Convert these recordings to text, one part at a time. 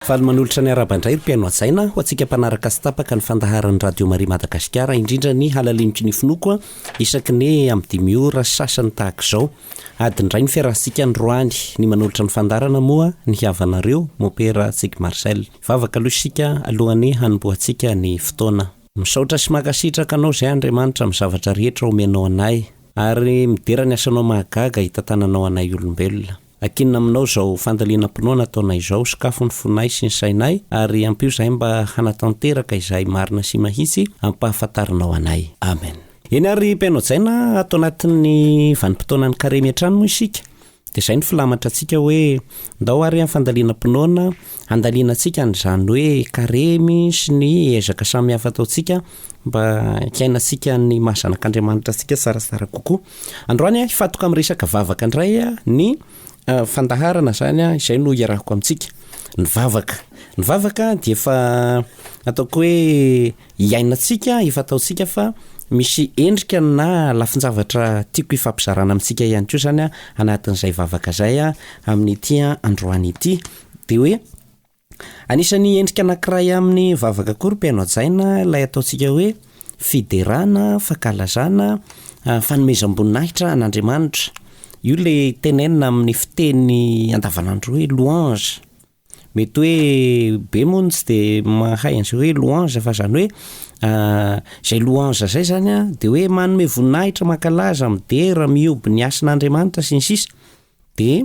Faly manolotra ny araba indray ry mpihaino hajaina, ho antsika mpanaraka sy tapaka ny fandaharan'ny Radio Maria Madagasikara, indrindra ny halaliniko ny finoako isaky ny amin'ny dimy ora sasany tahaka izao. Adiny iray no fiarahantsika androany, ny manolotra ny fandaharana moa ny havanareo, Mopera Tsiky Marcel. Hivavaka aloha isika alohan'ny hanombohantsika ny fotoana. Misaotra sy mankasitraka Anao izay Andriamanitra amin'ny zavatra rehetra omenao anay, ary midera ny asanao mahagaga hitantananao anay olombelona. Ankinina aminao izao fandalinam-pinoana ataonay izao, sokafo ny fonay sy ny sainay, ary ampio izahay mba hanatanteraka izay marina sy mahitsy ampahafantarinao anay. Amen. Eny ary Mpianao Jaina a, ato anatin'ny vanim-potoanan'ny Karemy hatrany moa isika, dia izay no filamatrantsika hoe, Ndao ary amin'ny fandalinam-pinoana, Handanianantsika an'izany hoe karemy sy ny ezaka samihafa ataontsika mba hiainantsika ny maha zanak'Andriamanitra antsika tsaratsara kokoa. Androany, hifantoka amin'ny resaka vavaka indray ny fandaharana izany izay no hiarahako amintsika. Ny vavaka. Ny vavaka dia efa ataoko hoe iainantsika, efa ataontsika fa misy endrika na lafin-javatra tiako hifampizarana amintsika ihany koa izany anatin'izay vavaka izay amin'ity androany ity. Dia hoe anisan'ny endrika anankiray amin'ny vavaka koa ry mpihaino hajaina ilay ataontsika hoe fiderana, fankalazana, fanomezam-boninahitra an'Andriamanitra. Io ilay tenenina amin'ny fiteny andavanandro hoe louange. Mety hoe be moa no tsy dia mahay an'izay hoe louange fa izany hoe izay louange izay izany an, dia hoe manome voninahitra, mankalaza, midera, mihoby ny hasin'Andriamanitra sy ny sisa dia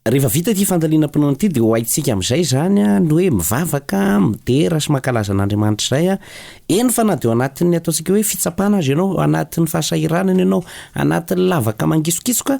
rehefa vita ity fandalinam-pinoana ity dia ho haintsika amin'izay izany an ny hoe mivavaka, midera sy mankalaza an'Andriamanitra izay an, eny fa na dia ao anatin'ny ataontsika hoe fitsapana aza ianao, anatin'ny fahasahiranana ianao, anatin'ny lavaka mangisokitsoka,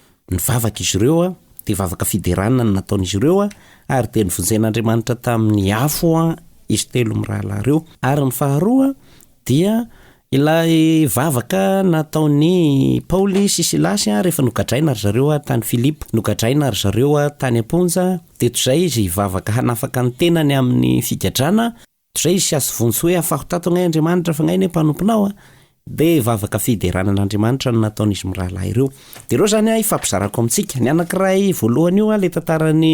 Ny vavaka izy ireo dia vavaka fiderana no nataon'izy ireo ary dia novonjen'Andriamanitra tamin'ny afo izy telo mirahalahy ireo. Ary ny faharoa dia ilay vavaka nataon'i Paoly sy Silasy rehefa nogadraina ry zareo tany Filipo, nogadraina ry zareo tany am-ponja, dia toy izay izy hivavaka hanafaka ny tenany amin'ny figadrana, Toizay izy sasy vonjy hoe afaho tato angahy Andriamanitra fa angahy anie mpanomponao a! Dia vavaka fiderana an'Andriamanitra no nataon'izy mirahalahy ireo. Dia ireo izany an ifampizarako amintsika. Ny anankiray voalohany io an, ilay tantaran'ny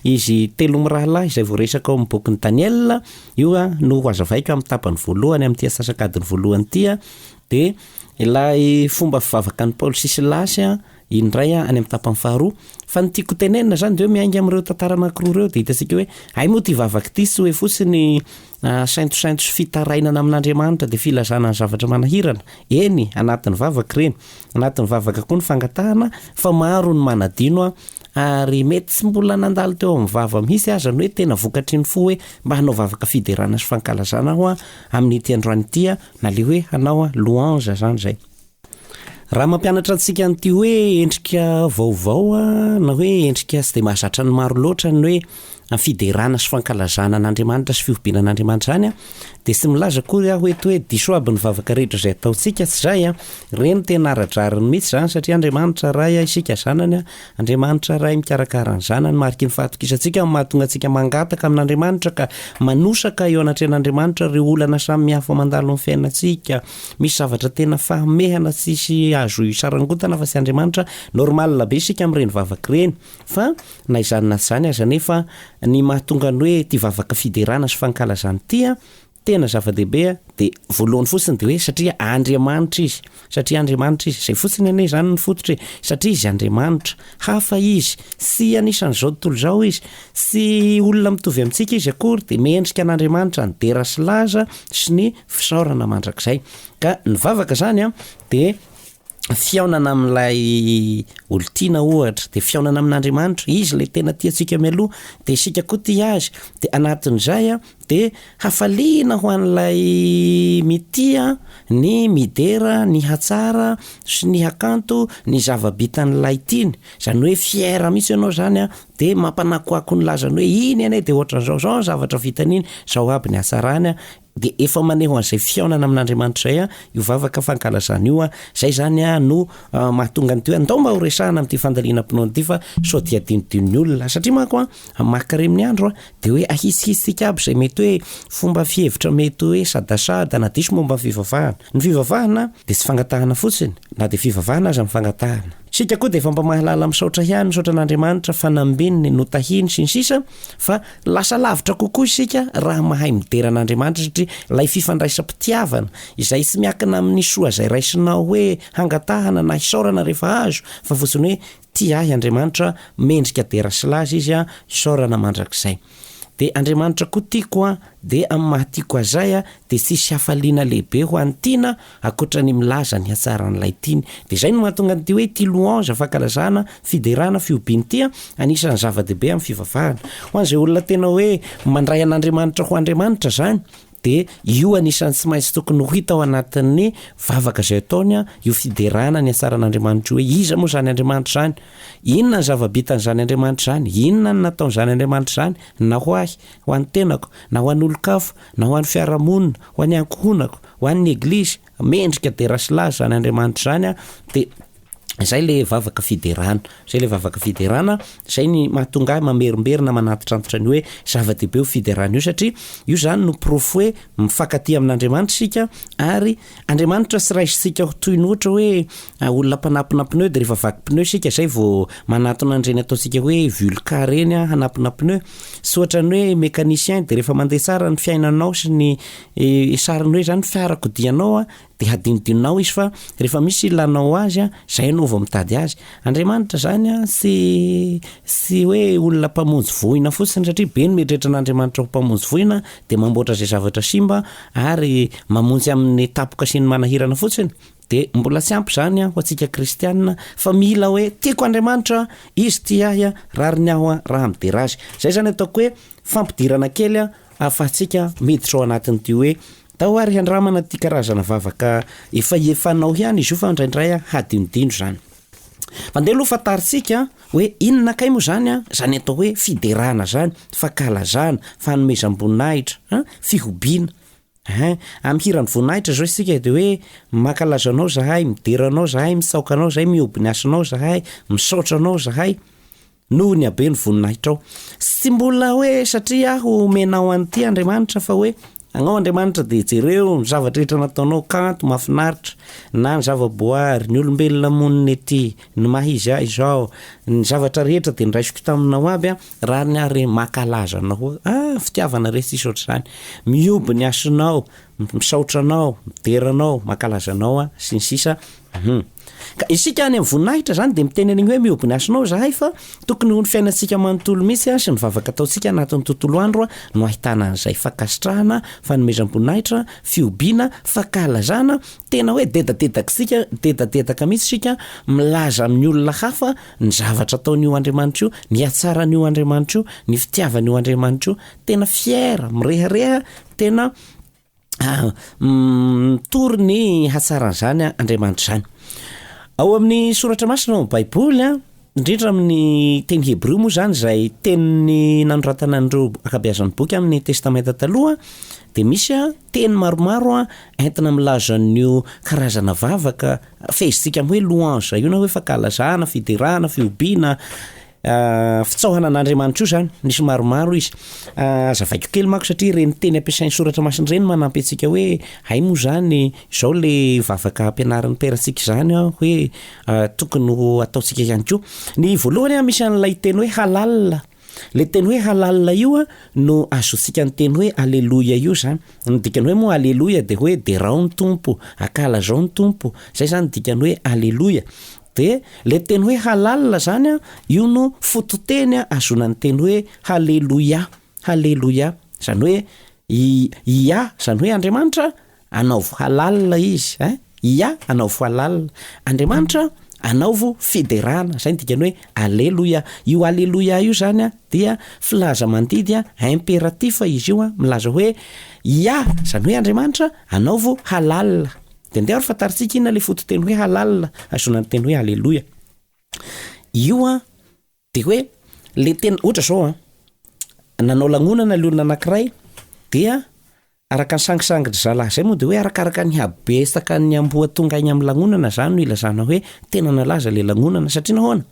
izy telo mirahalahy izay voaresaka ao amin'ny bokin'i Daniela, io an no ho azavaiko amin'ny tapany voalohany amin'ity asasakadiny voalohany ity an, dia ilay fomba fivavakan'i Paoly sy Silasy an, indray any amin'ny tapany faharoa fa ny tiako tenenina zany de hoe miainga amin'ireo tantara anankiroa ireo de hitantsika hoe hay moa ty vavaka ity sy hoe fotsiny ah, saintosainto sy fitarainana amin'Andriamanitra de filazana ny zavatra manahirana eny anatin'ny vavaka ireny anatin'ny vavaka koa ny fangatahana fa maro ny manadino ah, ary mety tsy mbola nandalo teo amin'ny vava mihitsy aza ny hoe tena vokatry ny fo hoe mba hanao vavaka fiderana sy fankalazana aho ah, amin'ity androany ity ah, na le hoe hanao ah, louange zany zay Raha mampianatra antsika an'ity hoe endrika vaovao na hoe endrika tsy dia mahazatra ny maro loatra ny hoe fiderana sy fankalazana an'Andriamanitra sy fihobiana an'Andriamanitra izany an, dia tsy milaza akory aho eto hoe diso aby ny vavaka rehetra izay ataontsika, tsy izay an, ireny tena ara-drariny mihintsy izany satria Andriamanitra Ray isika zanany an, Andriamanitra Ray mikarakara ny zanany, mariky ny fahatokisantsika no mahatonga antsika mangataka amin'Andriamanitra ka manosaka eo anatrehan'Andriamanitra ireo olana samy hafa mandalo amin'ny fiainantsika, Misy zavatra tena fahamehana tsisy azo isarangotana fa tsy Andriamanitra, normal be isika amin'ireny vavaka ireny fa na izany na tsy izany aza anefa ny mahatonga ny hoe ity vavaka fiderana sy fankalazana ity an, tena zava-dehibe an, dia voalohany fotsiny dia hoe satria Andriamanitra izy, satria Andriamanitra izy, izay fotsiny anie izany ny fototra e, satria izy Andriamanitra, hafa izy, tsy anisan'izao tontolo izao izy, tsy olona mitovy amintsika izy akory dia mendrika an'Andriamanitra ny dera sy laza sy ny fisaorana mandrakizay ka ny vavaka zany an de fihaonana amin'ilay olon-tiana ohatra de fihaonana amin'Andriamanitra izy le tena tiantsika mialoha de isika koa tia azy de anatin'izay an de hafaliana ho an'ilay mitia ny midera ny hatsara sy ny hakanto ny zava-bitan'ilay tiany zany hoe fier mihitsy ianao zany an de mampanakoako ny lazany hoe iny anie de ohatran'izao zao ny zavatra vitan'iny zao aby ny hatsarany an Dia efa maneho an'izay fihaonana amin'Andriamanitra izay io vavaka fankalazana io. Izay izany no mahatonga ny toean, ndao mba ho resahana amin'ity fandalinam-pinoana ity fa sao dia adinodinon'ny olona. Satria manko amin'ny maha karemin'ny andro dia hoe ahisihitsika aby izay mety hoe fomba fihevitra mety hoe sadasada na diso momba ny fivavahana. Ny fivavahana dia tsy fangatahana fotsiny na dia fivavahana aza ny fangatahana. Isika koa dia efa mba mahalala misaotra ihany, misaotra an'Andriamanitra fanambininy, notahiny sy ny sisa fa Lasa lavitra kokoa isika raha mahay midera an'Andriamanitra satria ilay fifandraisam-pitiavana izay tsy miankina amin'ny soa izay raisinao hoe hangatahana na hisaorana rehefa azo fa fotsiny hoe tia ahy Andriamanitra, mendrika dera sy laza izy aho, isaorana mandrakizay. Dia Andriamanitra koa tiako aho, dia amin'ny maha tiako ahy izay aho dia tsy hisy hafaliana lehibe ho an'ny tiana Ankoatra ny milaza ny hatsaran'ilay tiany. Dia izay no mahatonga an'ity hoe ity louange, fankalazana, fiderana, fihobiana ity an, anisan'ny zava-dehibe amin'ny fivavahana. Ho an'izay olona tena hoe mandray an'Andriamanitra ho Andriamanitra izany, dia io anisan'ny tsy maintsy tokony ho hita ao anatin'ny vavaka izay ataony an, io fiderana ny hatsaran'Andriamanitra io, hoe iza moa izany Andriamanitra izany? Inona ny zava-bitan'izany Andriamanitra izany? Inona ny nataon'izany Andriamanitra izany? Na ho ahy, ho an'ny tenako, na ho an'olon-kafa, na ho an'ny fiarahamonina, ho an'ny ankohonako, Ho an'ny Eglizy, mendrika dera sy laza izany Andriamanitra izany, dia izay ilay vavaka fiderana. Izay ilay vavaka fiderana, izay ny mahatonga ahy mamerimberina, manantitrantitra ny hoe zava-dehibe io fiderana io, satria io izany no porofo hoe mifankatia amin'Andriamanitra isika, ary Andriamanitra tsy raisintsika ho toy ny ohatra hoe olona mpanampina pneu, dia rehefa vaky pneu isika, izay vao manatona an'ireny ataontsika hoe vulca ireny hanampina pneu. Tsy ohatran'ny hoe mécanicien, dia rehefa mandeha tsara ny fiainanao sy ny Ilay sarin'ny hoe izany fiarakodianao dia hadinodinonao izy fa rehefa misy ilanao azy an, izay ianao vao mitady azy. Andriamanitra izany an, tsy tsy hoe olona mpamonjy voina fotsiny satria be ny mieritreritra an'Andriamanitra ho mpamonjy voina dia mamboatra izay zavatra simba ary mamonjy amin'ny tapoka sy ny manahirana fotsiny, dia mbola tsy ampy izany an ho antsika kristiana fa mila hoe tiako Andriamanitra an, izy tia ahy an, rariny aho an, raha midera azy. Izay izany ataoko hoe fampidirana kely an. Ahafahantsika miditra ao anatin'ity hoe tao ary handramana ity karazana vavaka efa efanao ihany izy io fa indraindray hadinodino izany. Mandeha aloha fantarintsika hoe inona kay moa izany izany atao hoe fiderana izany, fankalazana, fanomezam-boninahitra, a fihobiana. Hein, amin'ny hiran'ny voninahitra izao isika dia hoe mankalaza anao izahay, midera anao izahay, mitsaoka anao izahay, mihoby ny hasinao izahay, misaotra anao izahay. Noho ny habe ny voninahitrao. Tsy tsy mbola hoe satria aho omenao an'ity Andriamanitra fa hoe agnao Andriamanitra dia jereo ny zavatra rehetra nataonao, kanto, mahafinaritra, na ny zava-boary, ny olombelona monina ety, ny maha izy ahy izao, ny zavatra rehetra dia niraisiko taminao aby an, rariny aho re mankalaza anao hoe ah fitiavana re tsisy ohatr'izany, mihoby ny hasinao, misaotra anao, midera anao, mankalaza anao aho, sy ny sisa. Humm. Ka isika any amin'ny voninahitra zany dia miteny an'igny hoe mihoby ny hasinao zahay fa tokony ho ny fiainantsika manontolo mihitsy an, sy ny vavaka ataontsika anatin'ny tontolo andro an, no ahitana an'izay. Fankasitrahana, fanomezam-boninahitra, fihobiana, fankahalazana, tena hoe dedadedak'isika, dedadedaka mihitsy isika milaza amin'ny olona hafa ny zavatra ataon'io Andriamanitra io, ny hatsaran'io Andriamanitra io, ny fitiavan'io Andriamanitra io. Tena fier, mirehareha, tena. mitory ny hatsaran'izany Andriamanitra izany. Ao amin'ny soratra masina ao amin'ny Baiboly a, indrindra amin'ny teny hebreo moa izany izay tenin'ny nanoratana an'ireo akabeazan'ny boky amin'ny Testamenta Taloha dia misy a teny maromaro a entina milaza an'io karazana vavaka fehezitsika amin'ny hoe louange io na hoe fankalazana, fiderana, fihobiana, Fitsaohana an'Andriamanitra io zany, misy maromaro izy, azavaiko kely manko satria ireny teny ampiasain'ny soratra masina ireny manampy antsika hoe hay moa zany zao le vavaka ampianarin'ny Père tsika izany an hoe tokony ho ataontsika ihany koa, ny voalohany an misy an'ilay teny hoe halal, le teny hoe halal io an no azotsika ny teny hoe aleloia io zany, ny dikany hoe moa aleloia de hoe derao ny Tompo, ankalazao ny Tompo, zay zany dikany hoe aleloia. Dia ilay teny hoe halal izany an, io no fototeny ahazoana ny teny hoe haleloia, haleloia, izany hoe i Iah, izany hoe Andriamanitra, anaovo halal izy, ein, Iah, anaovo halal, Andriamanitra, anaovo fiderana, izay ny dikany hoe aleloia. Io aleloia io izany an, dia filaza-mandidy an, impératif izy io an, milaza hoe Iah, izany hoe Andriamanitra, anaovo halal. Dia andeha ary fantarintsika inona ilay fototeny hoe halal, ahazoana ny teny hoe aleloia. Io an, dia hoe ilay tena, ohatra izao an, nanao lanonana ilay olona anankiray, dia araka ny sangisangin'ny zalahy izay moa dia hoe arakaraka ny habesakan'ny amboa tonga any amin'ny lanonana izany no ilazana hoe tena nalaza ilay lanonana satria nahoana?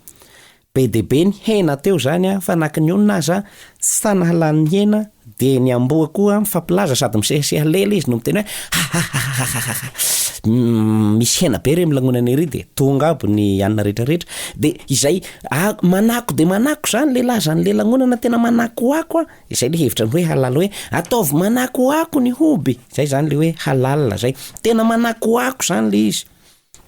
Be dia be ny hena teo izany an, fa na ka ny onona aza tsy tanahalany ny hena, dia ny amboa koa mifampilaza sady misehaseha lela izy no miteny hoe hahahahahahahha, misy hena be re amin'ny lanonana ery dia tonga aby ny anona rehetrarehetra, dia izay manako dia manako izany ilay lazany ilay lanonana tena manakoako an, izay ilay hevitra ny hoe halal hoe ataovy manakoako ny hoby, izay izany ilay hoe halal izay, tena manakoako izany ilay izy.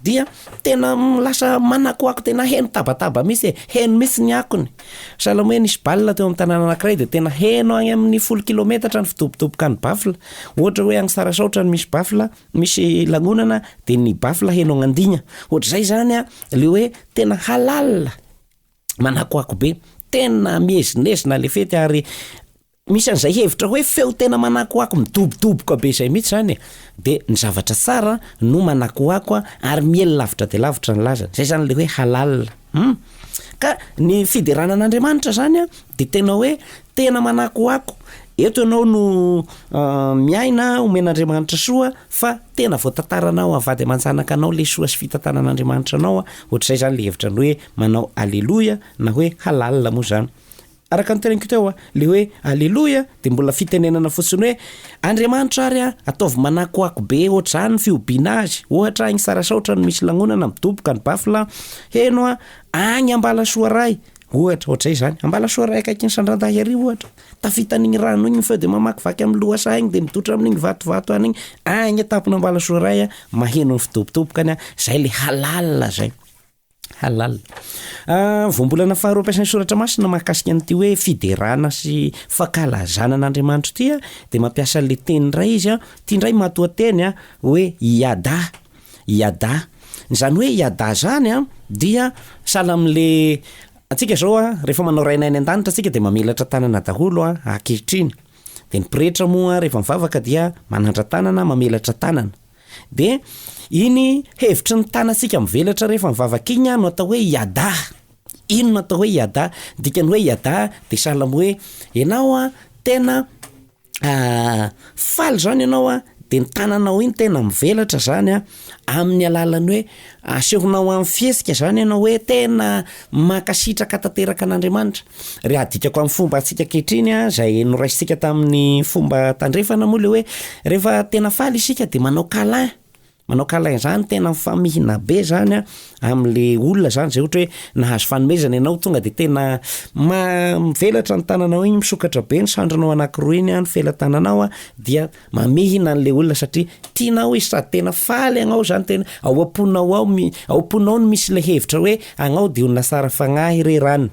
dia tena lasa manakoako tena heno tabataba mihitsy e, heno mihitsy ny akony, sahala amin'ny hoe nisy baolina teo amin'ny tanàna anankiray dia tena heno any amin'ny folo kilometatra ny fidobodoboka ny baffle, ohatra hoe any Tsarasaotra no misy baffle, misy lanonana dia ny baffle heno agn'Andigna, ohatr'izay izany an, ilay hoe tena halal, manakoako be, tena miezinezina ilay fety ary Misy an'izay hevitra hoe feo tena manakoako midobodoboka be izay mihitsy izany e! de ny zavatra tsara no manakoako ary miely lavitra dia lavitra ny lazany, izay izany ilay hoe halal hum! ka ny fiderana an'Andriamanitra izany an dia tena hoe tena manakoako, eto ianao no miaina omen'Andriamanitra soa fa tena voatantaranao avady aman-janaka anao ilay soa sy fitantanan'Andriamanitra anao an, ohatr'izay izany ilay hevitra ny hoe manao aleloia na hoe halal moa izany. Araka ny teneniko teo, le hoe Aleloia dia mbola fitenenana fotsiny hoe Andriamanitra ary an, ataovy manakoako be ohatr'izany ny fihobiana Azy. Ohatra, any Sarasaotra no misy lanonana, midoboka ny baffle an, heno an, Agny Ambalasoa Ray! ohatra, ohatr'izay izany. Ambalasoa Ray akaiky ny Sandrandahy ery ohatra. Tafita an'igny rano igny ny feo dia mamakivaky amin'ny lohasaha igny dia midotra amin'igny vatovato any igny. Agny an-tampon'Ambalasoa Ray an, maheno ny fidobodoboka any an, izay le halal izay. Halal. Voambolana faharoa ampiasain'ny Soratra Masina mahakasika an'ity hoe fiderana sy fankalazana an'Andriamanitra ity dia mampiasa an'ilay teny indray izy an, ity indray matoanteny an, hoe yada, yada. Izany hoe yada izany an dia sahala amin'ilay antsika izao an, rehefa manao Rainay any an-danitra isika dia mamelatra tanana daholo an, ankehitriny. Dia ny pretra moa rehefa mivavaka dia manandra-tanana, mamelatra tanana. Dia iny hevitry ny tanantsika mivelatra rehefa mivavaka iny no atao hoe Yada. Iny no atao hoe Yada. Ny dikan'ny hoe Yada dia sahala amin'ny hoe ianao an, tena faly izany ianao an, dia ny tananao iny tena mivelatra izany an, amin'ny alalan'ny hoe Asehonao amin'ny fihetsika izany ianao hoe tena mankasitraka tanteraka an'Andriamanitra. Raha adikako amin'ny fomba antsika ankehitriny an, izay noraisintsika tamin'ny fomba tandrefana moa ilay hoe rehefa tena faly isika dia manao câlin, manao câlin izany tena mifamihina be izany amin'ilay olona izany izay ohatra hoe nahazo fanomezana ianao tonga dia tena ma- mivelatra ny tananao iny, misokatra be ny sandrinao anakiroa iny an, ny felatananao an, dia. Mamihina an'le olona satria tianao izy sady tena faly agnao zany tena ao am-ponao ao mi- ao am-ponao no misy le hevitra hoe agnao de olona tsara fagnahy re ran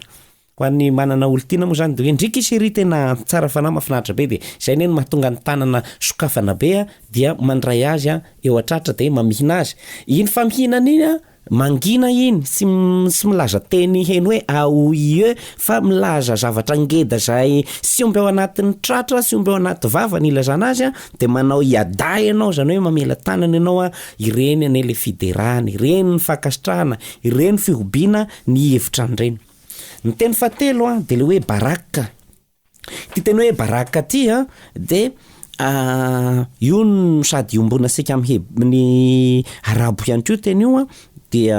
Ho an'ny manana olon-tiana moa zany de hoe ndriky chérie tena tsara fanahy mahafinaritra be de zay ne no mahatonga ny tanana sokafana be a dia mandray azy a eo an-tratra de mamihina azy, iny famihinana iny a. Mangina iny, tsy tsy milaza teny heno hoe a o i e fa milaza zavatra ngeda izay sy omby ao anatin'ny tratra sy omby ao anaty vava ny ilazana azy a, de manao iada ianao izany hoe mamela tanana ianao a, ireny anie le fiderana, ireny ny fankasitrahana, ireny fihobiana ny hevitra an'ireny. Ny teny fahatelo a de le hoe baraka. Ity teny hoe baraka ity an dia io no sady iombonantsika amin'ny heb- amin'ny arabo ihany koa io teny io an, dia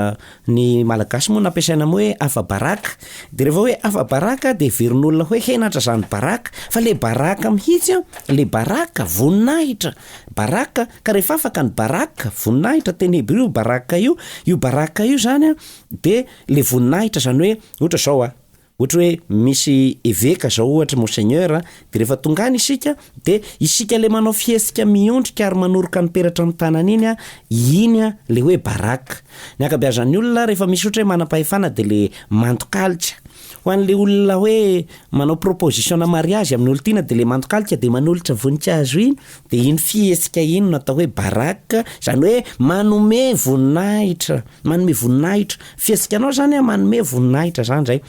ny malagasy moa no nampiasaina amin'ny hoe afa-baraka, de rehefa hoe afa-baraka de heverin'olona hoe henatra zany baraka, fa le baraka mihitsy an, le baraka voninahitra, baraka, ka rehefa afaka ny baraka, voninahitra, teny hebreo baraka io, io baraka io zany an de le voninahitra zany hoe ohatra zao an. Ohatra hoe misy eveka zao ohatra monseigneur a, de refa tonga any isika de isika le manao fihetsika miondrika ary manoroka ny peratra am tanana iny a, iny a le hoe baraka. Ny ankabeazan ny olona refa misy ohatra hoe manampahefana de le mandokalika. Ho an le olona hoe manao proposition mariage am ny olon tiana de le mandokalika de manolotra vonikazo iny Dia iny fihetsika iny no atao hoe baraka, izany hoe manome voninahitra, manome voninahitra. Fihetsikanao izany an, manome voninahitra izany izay.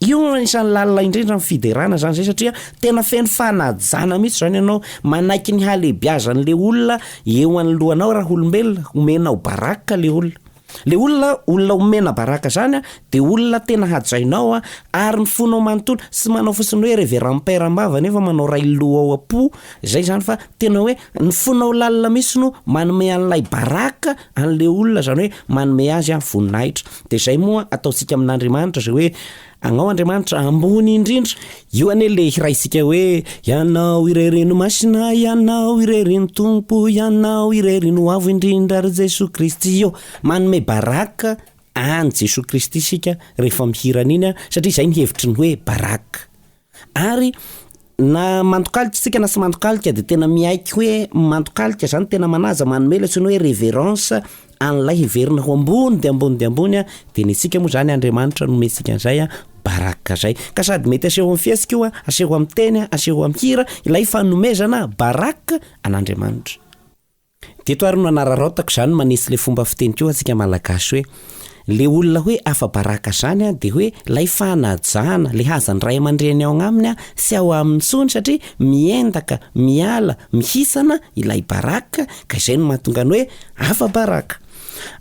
Io no anisan'ny lalina indrindra amin'ny fiderana izany izay satria tena feno fanajana mihitsy izany ianao. Manaiky ny halehibiazan'ilay olona eo anoloanao raha olombelona, omenao baraka ilay olona. Le olona olona omena baraka zany de olona tena hajainao ary mifono manontolo tsy manao fotsiny hoe reverend père ambava nefa manao ray lo ao apo zay zany fa tena hoe ny fonao lalina mitsy no manome an'ilay baraka an'le olona zany hoe manome azy voninahitra de zay moa ataontsika amin'Andriamanitra zay hoe Agnao Andriamanitra ambony indrindra. Io anie le hiraintsika hoe Ianao irery no Masina Ianao irery no Tompo Ianao irery no Avo indrindra ry Jesoa Kristy ô Manome baraka any Jesoa Kristy isika rehefa mihira an'iny satria izay ny hevitry ny hoe baraka Ary na mandokalika isika na tsy mandokalika dia tena miaiky hoe mandokalika izany, tena manaja, manome ilay antsoina hoe reverence an'ilay hiverina ho ambony dia ambony dia ambony an, dia ny antsika moa izany Andriamanitra no omentsika an'izay an, baraka izay. Ka sady mety aseho amin'ny fihetsika io an, aseho amin'ny teny an, aseho amin'ny hira ilay fanomezana baraka an'Andriamanitra. Dia eto ary no anararaotako izany manetsy ilay fomba fiteniko io antsika malagasy hoe, ilay olona hoe afa-baraka izany an, dia hoe ilay fanajana, ilay hazan'ny ray aman-dreny ao agnaminy an, tsy ao aminy intsony satria miendaka, miala, mihisana ilay baraka, ka izay no mahatonga ny hoe afa-baraka.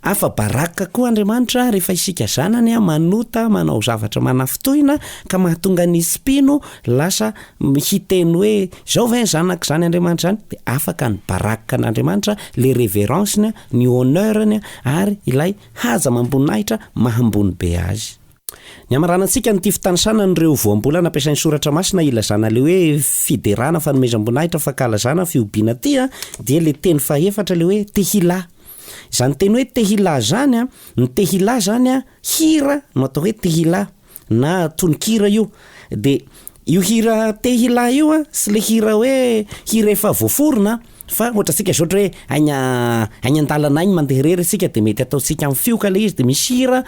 Afa-baraka koa Andriamanitra rehefa isika zanany manota, manao zavatra manafintohina ka mahatonga ny tsy mpino lasa hiteny hoe izao ve ny zanako izany Andriamanitra izany? dia afaka ny baraka an'Andriamanitra, ilay reverence-ny, ny honneur-ny ary ilay haja amam-boninahitra maha ambony be azy. Ny hamaranantsika an'ity fitanisana an'ireo voambolana ampiasain'ny Soratra Masina hilazana ilay hoe fiderana, fanomezam-boninahitra, fankalazana, fihobiana tia dia ilay teny fahefatra ilay hoe tehillah. Izany teny hoe tehillah izany an, ny tehillah izany an, hira no atao hoe tehillah na tononkira io. Dia Io hira te hilahy io an, sy le hira hoe hira efa voaforona an, fa ohatra tsika zao ohatra hoe aign aigny an-dalana aigny mandeha irery isika de mety ataontsika amin'ny fioka le izy de misy hira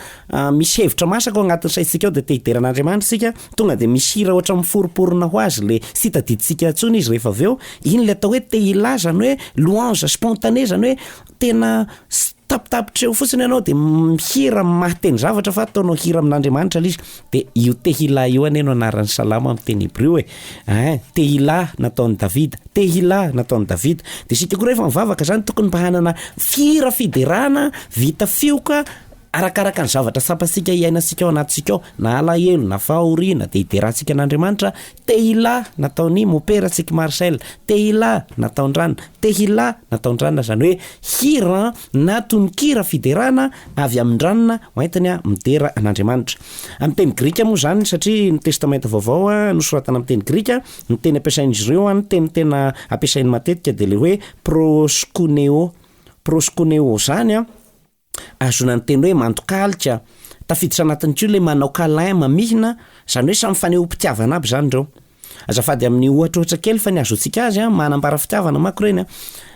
misy hevitra masaka ao agnatin'ny saintsika ao de te hidera an'Andriamanitra isika tonga de misy hira ohatra miforimporina ho azy le sy hita didintsika intsony izy rehefa avy eo, iny le atao hoe te hilahy zany hoe louange spontanée zany hoe tena tapitapitra eo fotsiny ianao de mihira mahateny zavatra fa ataonao hira amin'Andriamanitra ilay izy de io tehillah io anie no anaran'ny salamo amin'ny teny hebreo e, ein tehillah nataon'i Davida, tehillah nataon'i Davida, de isika koa rehefa mivavaka zany tokony mba hanana hira fiderana vita fioka arakaraka ny zavatra tsapantsika hiainantsika ao anatintsika ao na alahelo na fahoriana de hiderantsika an'Andriamanitra Tehillah, nataon'i Mopera Tsiky Marcel, Tehillah, nataon-dRana, Tehillah, nataon-dRana, izany hoe hira na tononkira fiderana avy amin-dRana hoentiny midera an'Andriamanitra. Amin'ny teny grika moa izany, satria ny Testamenta Vaovao nosoratana amin'ny teny grika, ny teny ampiasain'izy ireo, ny teny tena ampiasainy matetika dia ilay hoe proskuneo, proskuneo, izany, Ahazoana ny teny hoe mandok'alika. Tafiditra anatin'ity ilay manao câlin, mamihina, izany hoe samy fanehoam-pitiavana aby izany ireo. Azafady amin'ny ohatra ohatra kely fa ny ahazoantsika azy an, manambara fitiavana manko ireny an.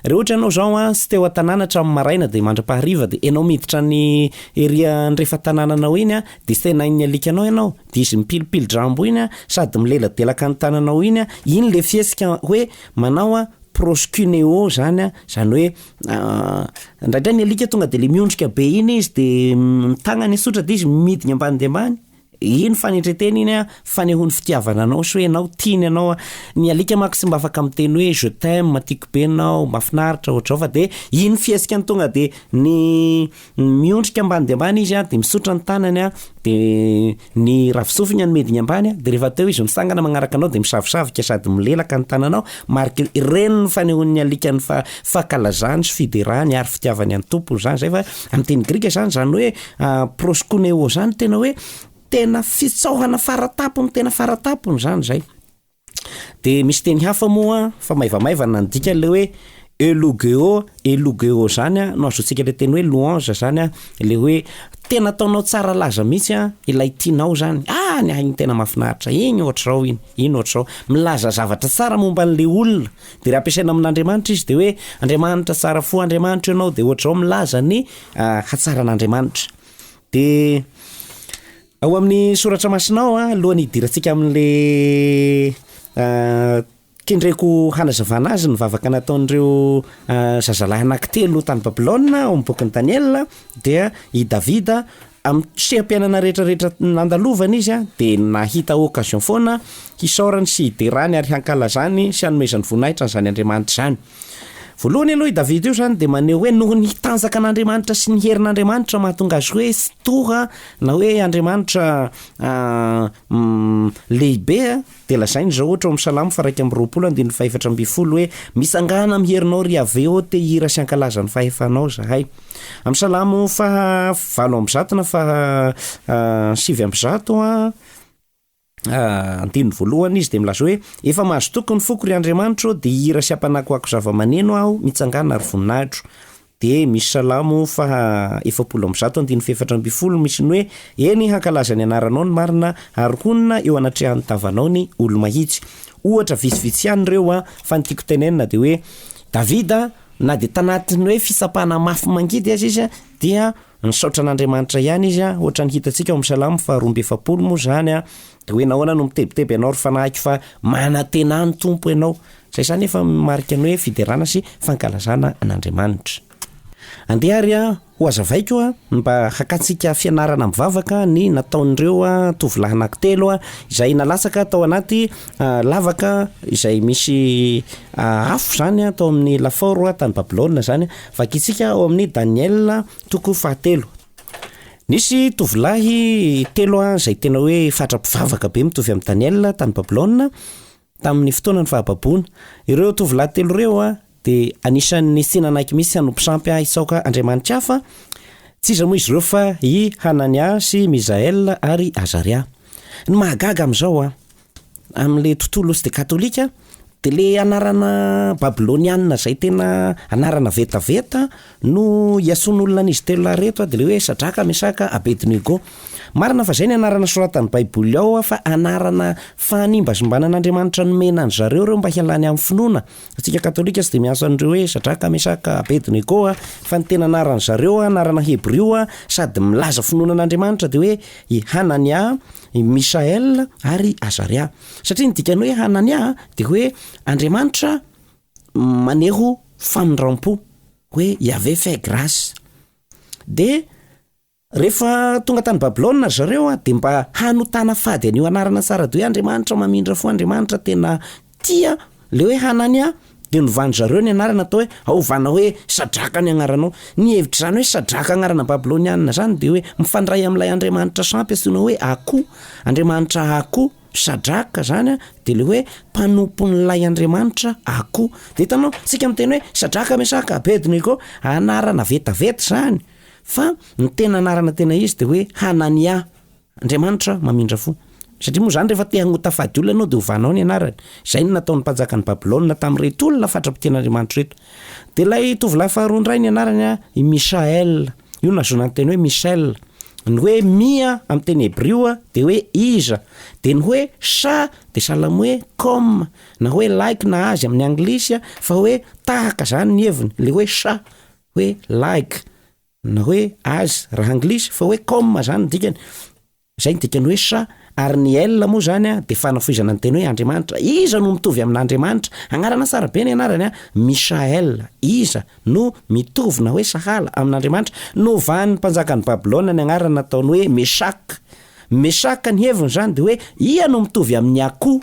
Re ohatra ianao izao an, tsy teo an-tanàna hatramin'ny maraina dia mandra-pahariva dia ianao miditra any ery andrefan tanànanao iny an, dia senain'ny alikanao ianao, dia izy mipilipili-drambo iny an, sady mileladelaka ny tananao iny an, iny ilay fihetsika hoe manao an, proskuneo izany an, izany hoe Indraindray ny alika tonga de le miondrika be iny izy de ny tagnany hisotra de izy midina ambany dia ambany, iny fanetretena iny an, fanehony fitiavana anao sy hoe enao tiany anao an, ny alika manko tsy mba afaka miteny hoe je t'aime, tiako be enao, mafinaritra, ohatr'izao fa de iny fihesikany tonga de ny Miondrika ambany dia ambany izy an, dia misotra ny tanany an, dia ny ravin-tsofiny an midina ambany an, dia rehefa teo izy mitsangana magnaraka anao dia misavosavoka sady milelaka ny tananao, mariky ireny ny fanehoan'ny alikany fa fankalazany sy fiderany ary fitiavany an'ny tompony izany izay fa amin'ny teny grika izany izany hoe proskuneo izany tena hoe tena fitsaohana faratapony tena faratapony izany izay. Dia misy teny hafa moa fa maivamaivana ny dikany le hoe eulogeo, eulogeo zany a no azotsika le teny hoe louange zany a le hoe tena ataonao tsara laza mihitsy a ilay tianao zany, ah ny ahy iny tena mafinaritra, iny ohatr'zao iny, iny ohatr'zao, milaza zavatra tsara momba an'le olona, de raha ampiasaina amin'Andriamanitra izy de hoe Andriamanitra tsara fo Andriamanitra ianao de ohatr'zao milaza ny hatsaran'Andriamanitra de. Ao amin'ny soratra masinao a, alohan'ny hidirantsika amin'le a kendreko hanazavana azy ny vavaka nataon'ireo a zazalahy anankitelo tany Babylona ao amin'ny bokin'i Daniela dia i Davida amin'ny seha-piainana retraretra nandalovany izy a dia nahita occasion foana hisaorany sy hiderany ary hankalazany sy hanomezany voninahitra an'izany Andriamanitra izany. Voalohany aloha io Davida io izany dia maneho hoe noho ny tanjaka an'Andriamanitra sy ny herin'Andriamanitra no mahatonga azy hoe tora na hoe Andriamanitra lehibe dia lazainy izao ohatra ao amin'ny salamo faraika amin'ny roapolo andininy fahefatra ambin'ny folo hoe misangana amin'ny herinao ry Yaveh ô te hira sy hankalaza ny fahefanao zahay. Amin'ny salamo faha valo amby zato na faha sivy amby zato Andininy voalohany izy dia milaza hoe, Efa mahazo toky ny foko, ry Andriamanitro ô, dia hihira sy hampanakoako zava-maneno aho, mitsangàna ary voninahitro. Dia misy Salamo faha efapolo amby zato andininy fahefatra ambin'ny folo misy ny hoe, Eny, hankalaza ny anaranao ny marina, ary honina eo anatrehan'ny tavanao ny olo-mahitsy. Ohatra vitsivitsy ihany ireo an, fa ny tiako tenenina dia hoe, Davida na dia tanatin'ny hoe fitsapana mafy mangidy aza izy dia Nisaotra an'Andriamanitra ihany izy, hoatran'ny hitantsika ao amin'ny Salamo faharoa amby efapolo moa izany dia hoe nahoana no mitebiteby ianao ry fanahiko fa manantena ny Tompo ianao. Izay izany efa marika ny hoe fiderana sy fankalazana an'Andriamanitra. Andeha ary ho azavaiko ny mba hakantsika fianarana mivavaka ny nataon'ireo tovolahy anankitelo izay nalatsaka tao anaty lavaka izay misy afo izany tao amin'ny lafaoro tany Babylona izany Vakintsika ao amin'ny Daniela toko fahatelo. Nisy tovolahy telo izay tena hoe fatra-pivavaka be mitovy amin'i Daniela tany Babylona tamin'ny fotoanan'ny fahababoana. Ireo tovolahy telo ireo dia anisan'ny tsy nanaiky mihitsy hanompo sampy hitsaoka andriamanitra hafa. Tsy iza moa izy ireo fa i Hanania sy Misaela ary Azaria. Ny mahagaga amin'izao Amin'ilay tontolo osy dia katolika dia ilay anarana babylonianina izay tena anarana vetaveta no iantsoan'olona an'izy telo lahy ireto dia ilay hoe Sadraka, Mesaka, Abednego. Marina fa izay ny anarana soratan'ny baiboly ao fa anarana fanimbasimbanan'Andriamanitra nomena an'i zareo ireo mba hialany amin'ny finoana. Isika katolika tsy dia miasa an'ireo hoe Sadraka, Mesaka, Abednego fa ny tena anaran'izareo anarana hebrio sady milaza finoana an'Andriamanitra dia hoe i Hanania, i Michaël ary i Azaria. Satria ny dikan'ny hoe Hanania dia hoe Andriamanitra maneho famindram-po, hoe Yaveh fait grâce. Dia rehefa tonga tany Babylona ry zareo dia mba hanotana fady an'io anarana tsara be hoe Andriamanitra mamindra fo, Andriamanitra tena Tia le hoe Hanania dia novandry zareo ny anarana atao hoe Haovana hoe Sadraka ny agnaranao. Ny hevitr'izany hoe Sadraka agnarana babylonianina zany dia hoe mifandray amin'ilay andriamanitra sampy antsoina hoe Ako, andriamanitra Ako. Sadraka zany dia le hoe mpanompon'ilay andriamanitra Ako. De hitanao tsika miteny hoe Sadraka, Mesaka, Abednego anarana vetaveta zany fa ny tena anarana tena izy dia hoe Hanania. Andriamanitra mamindra fo. Satria moa izany rehefa te hagnota fady olona ianao dia ovanao ny anarany. Izay no nataon'ny mpanjakan'i Babylona tamin'ireto olona fatra-pitian'Andriamanitra ireto. Dia ilay tovolahy faharoa indray ny anarany, i Michaël. Io no nahazoana ny teny hoe Michel. Ny hoe Mi a, amin'ny teny hebrio a, dia hoe iza. Dia ny hoe Cha dia sahala amin'ny hoe comme, na hoe like na azy amin'ny anglisy, fa hoe tahaka izany ny heviny, ilay hoe Cha, hoe like. na hoe as raha anglisy fa hoe comme zany ny dikany, zay ny dikany hoe sa, ary ny el moa zany a de fanafohizana ny teny hoe Andriamanitra, iza no mitovy amin'Andriamanitra? anarana tsara be ny anarany a, Michael, iza no mitovy na hoe sahala amin'Andriamanitra? novan'ny mpanjakan'i Babylona ny anarany nataony hoe Meshak, Meshak ny heviny zany de hoe ia no mitovy amin'ny akoho?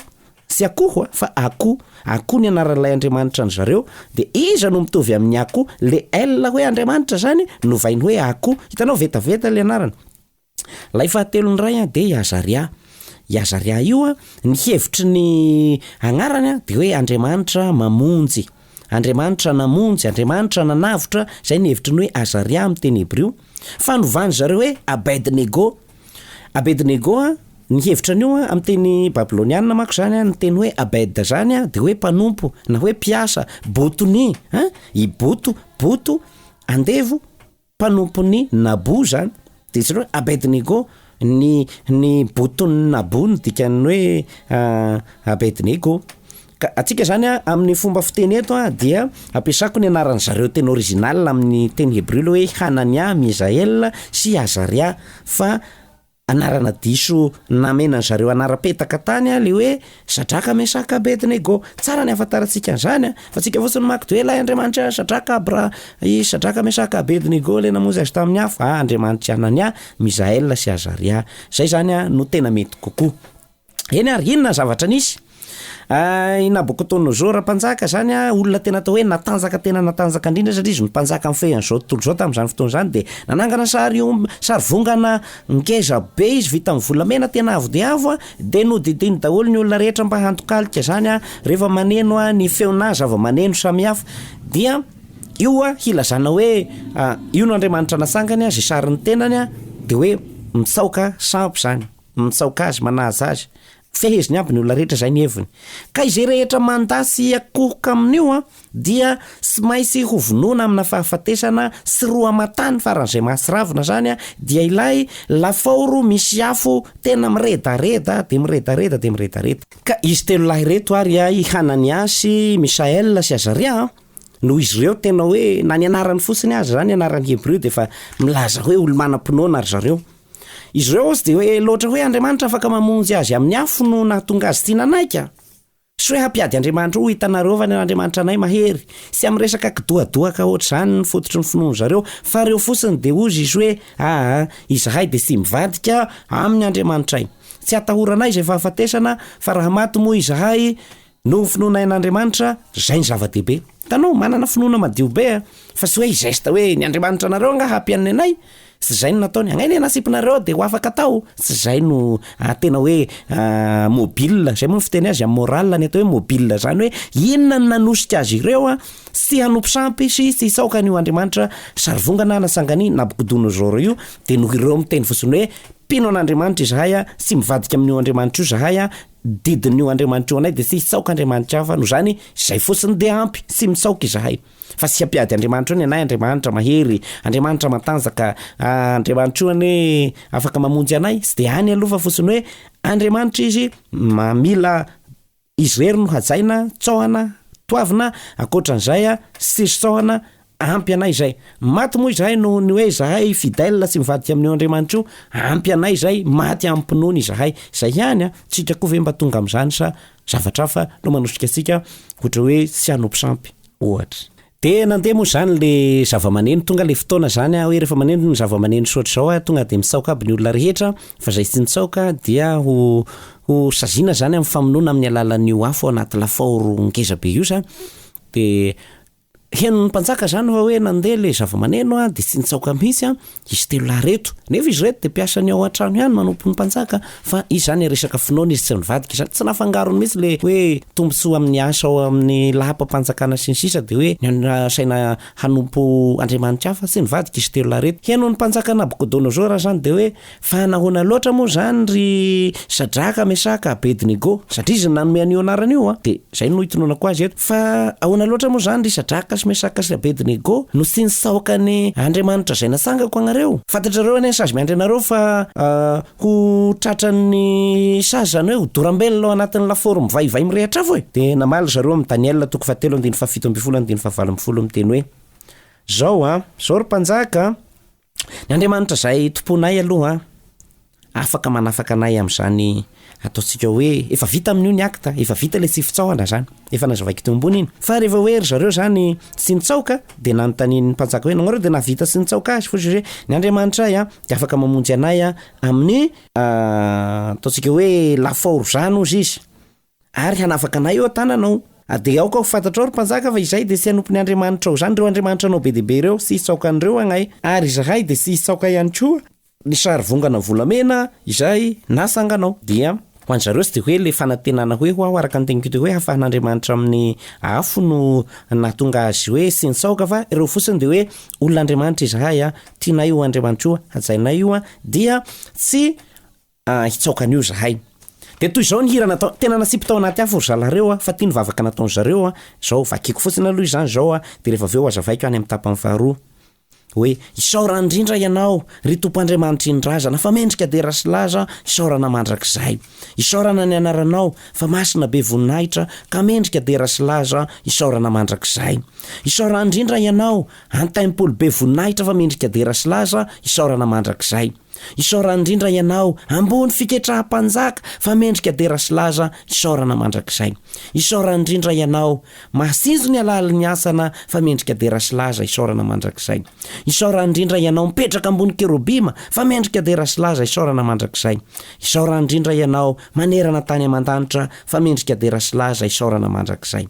Tsy akoho a, fa akoho. Akoho ny anaran'ilay andriamanitra an-dry zareo. Dia iza no mitovy amin'ny akoho? Le El hoe andriamanitra izany novainy hoe akoho. Hitanao, vetaveta ilay anarana. Ilay fahatelon'ny iray an, dia i Azaria. I Azaria io an, ny hevitry ny agnarany an, dia hoe andriamanitra mamonjy. Andriamanitra namonjy, andriamanitra nanavotra, izay ny hevitry ny hoe Azaria amin'ny teny hebrio. Fa novan'dry zareo hoe Abed-nego. Abednego a, ny hevitra an'io a, amin'ny teny babylonianina manko izany a, ny teny hoe abed izany a, dia hoe mpanompo na hoe mpiasa, botoni an, i boto, boto, andevo, mpanompon'i Nabo izany, dia jereo hoe abednego, ny ny boton'i Nabo no dikan'ny hoe abednego. Ka antsika izany an, amin'ny fomba fiteny eto an, dia ampiasako ny anaran-dry zareo tena original amin'ny teny hebreo ilay hoe Hanania, Misael sy Azaria, fa anarana diso namenan-dry zareo anaram-petaka tany ilay hoe Sadraka, Mesaka, Abednego. Tsara ny ahafantarantsika an'izany an, fa antsika fotsiny mako dia hoe ilay Andriamanitra Sadraka, Abra, i Sadraka, Mesaka, Abednego ilay namonjy azy tamin'ny afo, ah, Andriamanitr'i Hanania, Misael sy Azaria. Izay izany an no tena mety kokoa. Eny ary, inona ny zavatra nisy? I Nabokodonosora mpanjaka izany an, olona tena atao hoe natanjaka tena natanjaka indrindra satria izy no mpanjaka nifehy an'izao tontolo izao tamin'izany fotoana izany dia nanangana sary om- sary vongana ngeza be izy vita amin'ny volamena tena avo dia avo an, dia nodidiany daholo ny olona rehetra mba handokalika izany an, rehefa maneno an, ny feonà zava-maneno samihafa dia io an hilazana hoe io no Andriamanitra natsangany an, izay sarin'ny tenany an, dia hoe mitsaoka sampy izany. Mitsaoka azy, manaja azy. Feheziny aby ny olona rehetra, izay ny heviny. Ka izay rehetra mandà sy hiakohoka amin'io dia tsy maintsy hovonoina amina fahafatesana sy roa aman-tany faran'izay mahatsiravina izany dia ilay lafaoro misy afo tena miredareda dia miredareda dia miredareda. Ka izy telo lahy ireto ary, i Hananiasy, i Misaela sy Azaria, noho izy ireo tena hoe, na ny anarany fotsiny aza izany, anarany hebreo, dia efa milaza hoe olo-manam-pinoana ry zareo. Izy ireo hozy dia hoe loatra hoe Andriamanitra afaka mamonjy azy amin'ny afo no nahatonga azy tia nanaiky an. Sy hoe hampiady Andriamanitra ho hitanareo va ny Andriamanitra anay mahery. Tsy amin'ny resaka kidohadohaka hoatr'izany ny fototry ny finoan-dry zareo fa ireo fotsiny dia hozy izy hoe aa izahay dia tsy mivadika amin'ny Andriamanitray. Tsy atahoranay izay fahafatesana fa raha maty moa izahay Noho ny finoana ain'Andriamanitra, zay ny zava-dehibe. Hitanao, manana finoana madio be a! Fa tsy hoe hi-geste hoe, ny Andriamanitra anareo angaha hampianona anay? Tsy zay no nataony. Angaha ny anasipinareo dia ho afaka atao? Tsy zay no tena hoe mobile, zay moa ny fiteny azy amin'ny morale, ny atao hoe mobile zany hoe, inona no nanosika azy ireo tsy hanompo sampy sy tsy hitsaoka an'io Andriamanitra sarivongana na sangan'i Nabuchodonosor io? Dia noho ireo miteny fotsiny hoe, mpino an'Andriamanitra izahay a, tsy mivadika amin'io Andriamanitra io zahay a, didin'io Andriamanitra io anay de tsy hitsaoka Andriamanitra hafa no zany zay fotsiny de ampy tsy mitsaoka izahay fa tsy ampiady Andriamanitra io ny anay Andriamanitra mahery Andriamanitra matanjaka ah, Andriamanitra io anie afaka mamonjy anay tsy de any aloha fa fotsiny hoe Andriamanitra izy mamila izy rery no hajaina tsaohana toavina ankoatran'izay a tsisy tsaohana Ampy anay izay. Maty moa izahay noho ny hoe izahay fidèle sy mivadika amin'io Andriamanitro io. Ampy anay izay, maty amim-pinoana izahay. Izay ihany an! Tsika koa ve mba tonga amin'izany sa zavatra hafa no manosika antsika ohatra hoe tsy hanompo sampy, ohatra. Dia nandeha moa izany le zava-maneno, tonga le fotoana izany an, hoe rehefa maneno ny zava-maneno tsy ohatr'izao an, tonga dia mitsaoka aby ny olona rehetra, fa izay tsy nitsaoka dia ho ho saziana izany amin'ny famonoana amin'ny alalan'io afo ao anaty lafaoro ngeza be io izany. Dia. Henon'ny mpanjaka izany fa hoe nandeha ilay zavamaneno dia tsy nitsaoka mihitsy izy telo lahy ireto. Nefa izy ireto dia mpiasan'ny ao an-trano ihany manompo ny mpanjaka fa izy izany resaka finoana izy tsy nivadika izany. Tsy nafangarony mihitsy ilay hoe tombontsoa amin'ny asa ao amin'ny laham-pampanjakana sy ny sisa dia hoe nasaina hanompo andriamanitra hafa. Tsy nivadika izy telo lahy ireto. Henon'ny mpanjaka Nabokodonosora izany dia hoe Fa nahoana loatra moa izany ry Sadraka, Mesaka, Abednego? Satria izy no nanome an'io anarana io an! Dia izay no itononako azy eto. Fa ahoana loatra moa izany ry Sadraka sy Mesaka sy Abednego no tsy nisaoka ny Andriamanitra izay natsangako anareo? Fantatrareo anie ny sazy miandry anareo fa ho tratran'ny sazy, izany hoe ho dorambelona ao anatin'ny lafaoro mivaivay mirehitra afo e! Dia namaly ry zareo amin'i Daniela toko fahatelo andininy fahafito ambin'ny folo andininy fahavalo ambin'ny folo miteny hoe, Izao an! Izao ry mpanjaka an! Ny Andriamanitra izay Tomponay aloha afaka manafaka anay amin'izany ataontsika hoe efa vita amin'io ny acte, efa vita ilay tsy fitsaohana zany, efa nazavaiko teo ambony iny. Fa rehefa hoe ry zareo zany tsy nitsaoka dia nanontanian'ny mpanjaka hoe nahoana dia nahavita tsy nitsaoka azy, hozy hoe ny Andriamanitra ahy dia afaka mamonjy anay amin'ny ataontsika hoe lafaoro zany hozy izy. Ary hanafaka anay eo an-tananao. A Dia aoka ho fantatrao, ry mpanjaka, fa izahay dia tsy hanompo ny andriamanitrao izany, ireo andriamanitranao be dia be ireo, sy hisaoka an'ireo agnay. Ary izahay dia tsy hisaoka ihany koa ny sarivongana volamena izay nasanganao. Dia ho an-dry zareo tsy dia hoe ilay fanantenana hoe ho aho, araka ny teniko teto hoe hafahan'andriamanitra amin'ny afo no nahatonga azy hoe tsy nisaoka, fa ireo fotsiny dia hoe olon'Andriamanitra izahay, tianay io andriamanitra io, hajainay io, dia tsy Ah hitsaoka an'io zahay. Dia toy izao ny hira natao, tena nasipy tao anaty afo ry zalareo a, fa ty ny vavaka nataon'i zareo a, zao vakiako fotsiny aloha izany zao a, dia rehefa avy eo hazavaiko any amin'ny tapany faharoa. Hoe, isaorana indrindra ianao, ry Tompo Andriamanitry ny razana, fa mendrika dera sy laza aho, isaorana mandrakizay. Isaorana ny anaranao, fa masina be voninahitra, ka mendrika dera sy laza aho, isaorana mandrakizay. Isaorana indrindra ianao, Antaimpolo be voninahitra, fa mendrika dera sy laza aho, isaorana mandrakizay. Isaorana indrindra ianao ambony fiketraha mpanjaka fa mendrika dera sy laza isaorana mandrakizay isaorana indrindra ianao mahasinjo ny alalin'ny asana fa mendrika dera sy laza isaorana mandrakizay isaorana indrindra ianao mipetraka ambony kerobima fa mendrika dera sy laza isaorana mandrakizay isaorana indrindra ianao manerana tany aman-danitra fa mendrika dera sy laza isaorana mandrakizay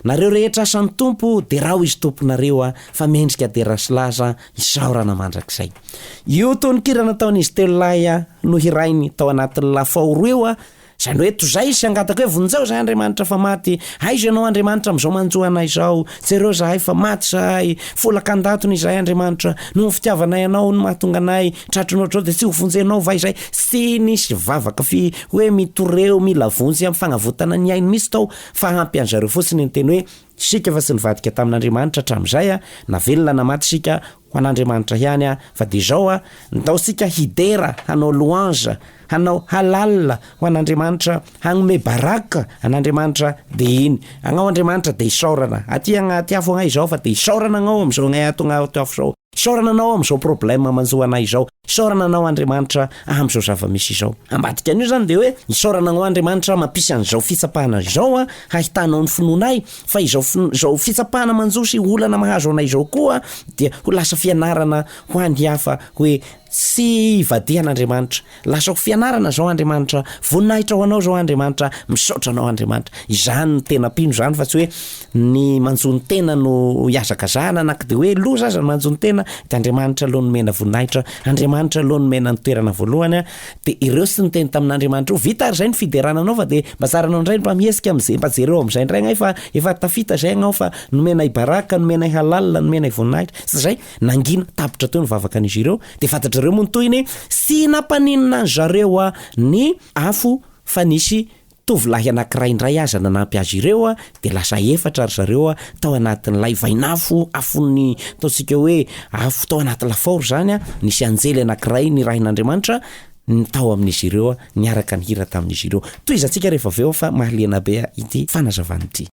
Nareo rehetra asan'ny Tompo deraho izy tomponareo a fa mendrika dera sy laza isaorana mandrakizay io tononkira nataon'izy telo lahy a nohirainy tao anatin'ny lafao roa io a izany hoe tozay sy angatako hoe vonjeo zahay Andriamanitra fa maty aiza ianao Andriamanitra amin'izao manjo anay izao jereo zahay fa maty zahay folaka an-datony izahay Andriamanitra noho ny fitiavanay anao no mahatonga anay tratry ny ohatr'izao dia tsy ho vonjenao va izay tsy nisy vavaka fi hoe mitoreo mila vonjy amin'ny fagnavotana ny ainy mihitsy tao Fa ampy an zareo fotsiny ny teny hoe isika efa tsy nivadika tamin Andriamanitra hatramizay a, na velona na maty isika ho an Andriamanitra ihany a, fa dia izao a, ndao isika hidera hanao louange, hanao halal ho an Andriamanitra, hagnome baraka an Andriamanitra, dia iny agnao Andriamanitra dia isaorana, aty agnaty afo agnay izao fa dia isaorana agnao amizao agnay ato agnay ato afo izao. Isaorana Anao amin'izao problème manjo anay izao. Isaorana Anao Andriamanitra amin'izao zava-misy izao. Ambadika an'io izany dia hoe, isaorana Anao Andriamanitra mampisy an'izao fitsapana izao hahitanao ny finoanay, fa izao finoana, izao fitsapana manjo sy olana mahazo anay izao koa dia ho lasa fianarana ho an'ny hafa hoe, Tsy ivadihan'Andriamanitra. Lasa ho fianarana izao Andriamanitra, voninahitra ho Anao izao Andriamanitra, misaotra Anao Andriamanitra. Izany no tena mpino izany fa tsy hoe ny manjo ny tena no ihazakazahana na ko dia hoe loza aza ny manjo ny tena dia Andriamanitra aloha nomena voninahitra, Andriamanitra aloha nomena ny toerana voalohany an, dia ireo sy niteny tamin'Andriamanitra ireo. Vita ary izay ny fiderana anao fa dia mba tsaranao indray ny mba mihetsika amin'izay, mba jereo amin'izay indray angaha efa efa tafita izay anao fa nomenay baraka, nomenay halal, nomenay voninahitra. Izay. Nangina tapitra teo ny vavakan'izy ireo, dia fantatrareo moa ny tohiny e! Tsy nampaninona an-dry zareo ny afo fa nisy tovolahy anankiray indray aza nanampy azy ireo, dia lasa efatra ry zareo tao anatin'ilay vain'afo, afon'ny ataontsika hoe afo tao anaty lafaoro izany an, nisy anjely anankiray nirahin'Andriamanitra tao amin'izy ireo niaraka nihira tamin'izy ireo. Tohizantsika rehefa avy eo fa mahaliana be ity fanazavana ity.